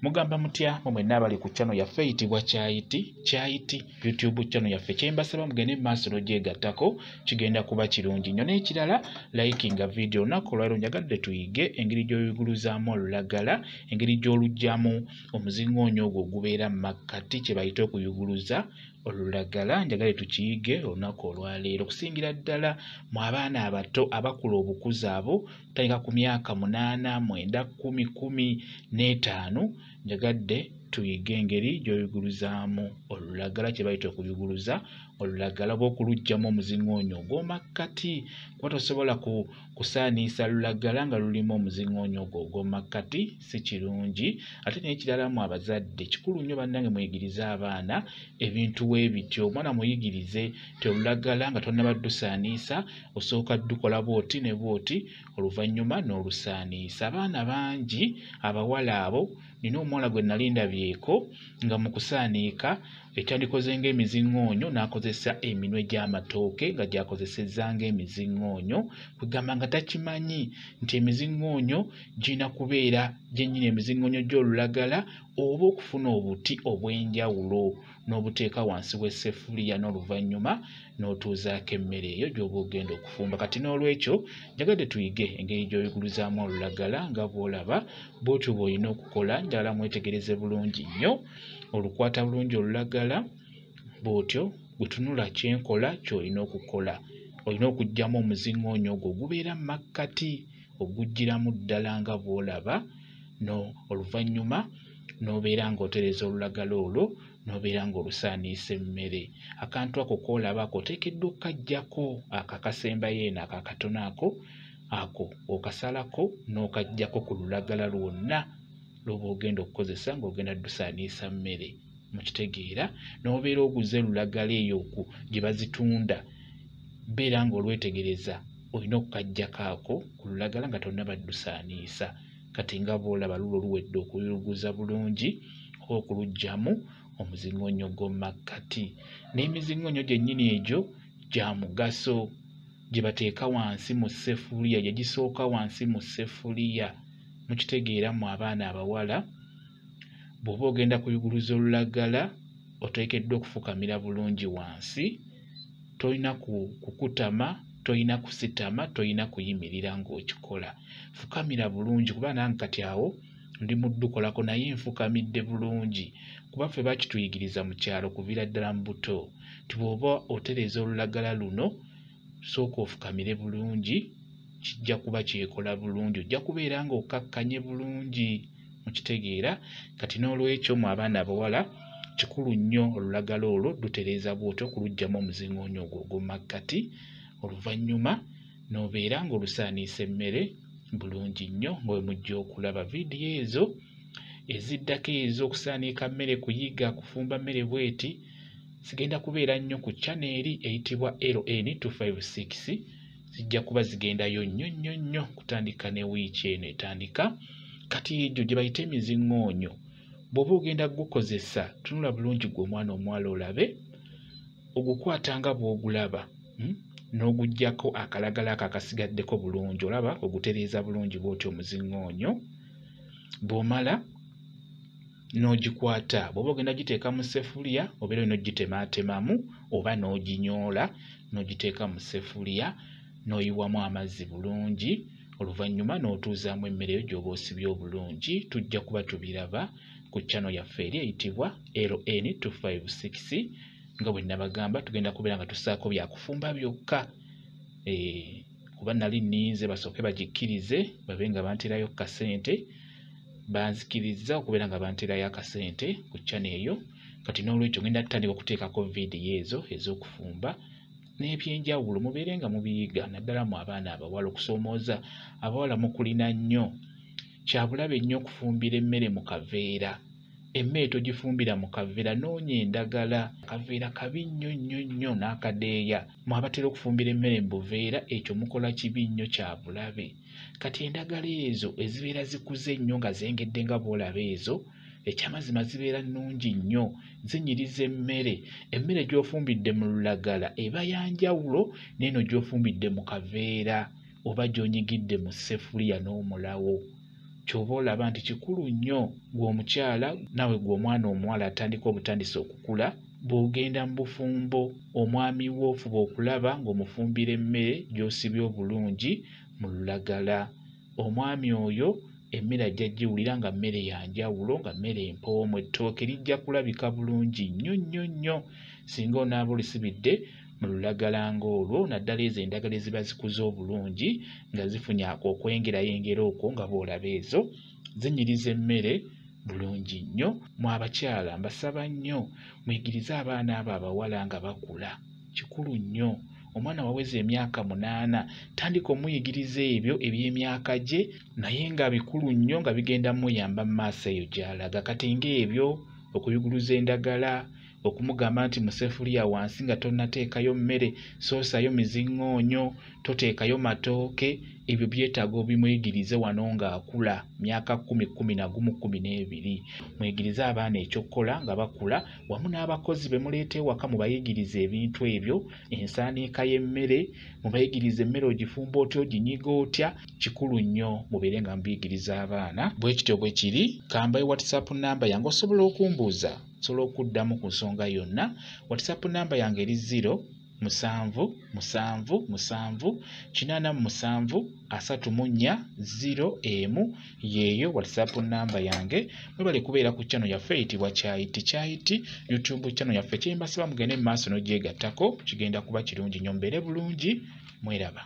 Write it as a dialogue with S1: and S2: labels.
S1: mugamba mutya mwe mwenna abali ku channel yaffe eyitibwa kyayiti kyayiti youtube channel yaffe kyembasaba mugende mu maaso logyegattako kigenda kuba kirungi nnyo n'ekirala likinga video olunaku olwaliro njagadde tuyige engeri gy'oyiguluzaamu olulagala engeri gy'olugyamu omuzingoonyo ogwo ogubeera mu makkati kye bayite okuyuguluza olulagala njagale tukiyige olunaku olwaleero okusingira ddala mu abaana abato abakula obukuzi abo tandika ku myaka munaana mwenda kumi kumi n'etaano njagadde tuyige engeri gy'oyuguluzaamu olulagala kye bayita okuyuguluza olulagala oba okuluggyamu omuziŋoonyo ogw'omakkati kuba tosobola ku kusaaniisa lulagala nga lulimu omuziŋoonyo ogwo ogw'omakkati si kirungi ate n'ekiralamu abazadde kikulu nnyo bannange muyigirize abaana ebintu w'ebityo omwana muyigirize ti olulagala nga tonnabaddusaaniisa osooka dukola bwoti ne bwoti oluvannyuma n'olusaaniisa abaana bangi abawala abo nina omuwala gwe nali ndabyeko nga mu kusaaniika ekyandikoze ng'emiziŋŋoonyo n'akozesa eminwe gy'amatooke nga gyakozesezza ng'emiziŋŋoonyo kwegamba nga takimanyi nti emiziŋŋoonyo girina kubeera gyennyini emiziŋŋoonyo gy'olulagala oba okufuna obuti obw'enjawulo n'obuteeka wansi w'esseffuliya n'oluvannyuma n'otuuzaako emmere eyo gy'oba ogenda okufumba kati n'olwekyo njagadde tuyige engeri gy'oyuguluzaamu olulagala nga bw'olaba bw'otyo bw'olina okukola njagala mwetegereze bulungi nnyo olukwata bulungi olulagala bw'otyo bwe tunula kyenkola ky'olina okukola olina okuggyamu omuziŋoonyo ogwo ogubeera mu makkati oguggyiramu ddala nga bw'olaba no oluvannyuma n'obeera ng'otereza olulagala olwo n'obeera ng'olusaaniisa emmere akantu ako koolaba ako oteekeddwa okukaggyako ako akasembayo eno ako akatono ako ako okasalako n'okaggyako ku lulagala lwonna lwoba ogenda okukozesa ng'ogenda dusaaniisa mmere mukitegeera n'obeera oguze lulagala eyo oku gye bazitunda beera ng'olwetegereza olina okukaggyako ako ku lulagala nga tonnabaddusaaniisa kati nga bwolaba lulo luwedde okuyuluguza bulungi oba okulugyamu omuzingonyo gw'omumakkati n'emizingonyo gyennyini egyo gya mugaso gye bateeka wansi mu sefuliya gye gisooka wansi mu sefuliya mukitegeera mu abaana abawala bw'oba ogenda kuyuguluza olulagala oteekeddwa okufukamira bulungi wansi tolina kukutama tolina kusitama tolina kuyimirira ng'okikola fukamira bulungi kuba nange kati awo ndi muddukolako naye nfukamidde bulungi kuba ffe bakituyigiriza mu kyalo kuviira ddala mu buto nti bw'oba otereeza olulagala luno sooka ofukamire bulungi kijja kuba kyekola bulungi ojja kubeera ng'okkakkanye bulungi mukitegeera kati n'olwekyo mu abaana abawala kikulu nnyo olulagala olwo lutereeza bwotyo okulugyamu omuzingoonyo ogwo ogwomumakkati oluvannyuma n'obeera ng'olusaaniisa emmere bulungi nnyo nga we mujja okulaba vidiyo ezo eziddako ezo okusaaniika mmere kuyiga kufumba mmere bweti sigenda kubeera nnyo ku chana eri eyitibwa ln 256 zijja kuba zigendayo nnyo nnyo nnyo kutandika ne wiiki eno etandika kati egyo gye bayita emiziŋŋoonyo bw'oba ogenda kugukozesa tunula bulungi gwe omwana omuwala olabe ogukwata nga bw'ogulaba hmm? n'ogugyako akalagala ako akasigaddeko bulungi olaba ogutereeza bulungi bw'otyo omuziŋŋoonyo bw'omala n'ogikwata bw'oba ogenda giteeka mu sefuliya obeera olina ogitemaatemamu oba n'oginyoola n'ogiteeka mu sefuliya n'oyiwamu amazzi bulungi oluvannyuma n'otuuzaamu emmere yo gy'oba osibye obulungi tujja kuba tubiraba ku chano yaffe eri eyitibwa ln 256 nga bwe nabagamba tugenda kubeera nga tusaako byakufumba byokka eh, kuba nali ninze basooke bagikkirize babe nga banterayo kasente banzikirizza okubeera nga banterayo akasente ku channel eyo kati n'olwekyo ngenda tutandika okuteekako vidiyo ezo ez'okufumba n'ebyenjawulo mubeere nga mubiyiga naddala mu abaana abawala okusoomooza abawala mukulina nnyo Kyabulabe nnyo okufumbira emmere mu kaveera. Emmere togifumbira mu kaveera, noonya endagala. Akaveera kabi nnyo nnyo nnyo n'akadeeya. Mu abatera okufumbira emmere mu buveera ekyo mukola kibi nnyo kya bulabe. Kati endagala ezo ezibeera zikuze ennyo nga zengedde nga bw'olaba ezo, ekyamazima zibeera nnungi nnyo, zinyiriza emmere. Emmere gy'ofumbidde mu lulagala eba ya njawulo n'eno gy'ofumbidde mu kaveera. oba gy'onyigidde mu ssefuliya n'omulawo ky'oba olaba nti kikulu nnyo gwe omukyala naawe gwe omwana omuwala atandika obutandisi okukula bw'ogenda mu bufumbo omwami wo ofuba okulaba ng'omufumbira emmere gy'osibye obulungi mu lulagala omwami oyo emmere ajja giwulira nga mmere ya njawulo nga mmere empoomu ettooke lijja kulabika bulungi nnyo nnyo nnyo singa onaaba olisibidde mu lulagala ng'olwo naddala ezo endagala eziba zikuze obulungi nga zifunye ako okwengerayengera okwo nga boolaba ezo zinyiriza emmere bulungi nnyo mu abakyala mbasaba nnyo muyigirize abaana abo abawala nga bakula kikulu nnyo omwana waweza emyaka munaana tandika omuyigiriza ebyo eby'emyaka gye naye nga bikulu nnyo nga bigenda muyamba mu maaso eyo gy'alaga kati ng'ebyo okuyuguluza endagala okumugamba nti musefuliya wansi nga tonateekayo mmere soosayo mizingoonyo toteekayo matooke ebyo byetaaga obimwegirize wano ng'akula myaka kumi kumi nagumu kumi n'ebiri mwegirize abaana ekyokukola nga bakula wamu n'abakozi be muleeta ewaka mubayigirize ebintu ebyo ensaaniika y'emmere mubayigirize emmere ogifumba otya oginyiga otya kikulu nnyo mubeere nga mubiyigiriza abaana bwe kityo bwe kiri kambaye whatsapp namba yange osobola okumbuuza sobola okuddamu ku nsonga yonna whatsapp namba yange eri ziro musanvu musanvu musanvu kinaana mu musanvu asatu mu nnya ziro emu yeeyo whatsapp namba yange mwebale kubeera ku channel yaffe eyitibwa kyayiti kyayiti youtube channel yaffe kyembasiba mugende mu maaso n'ogyegattako kigenda kuba kirungi nyo mbeere bulungi mweraba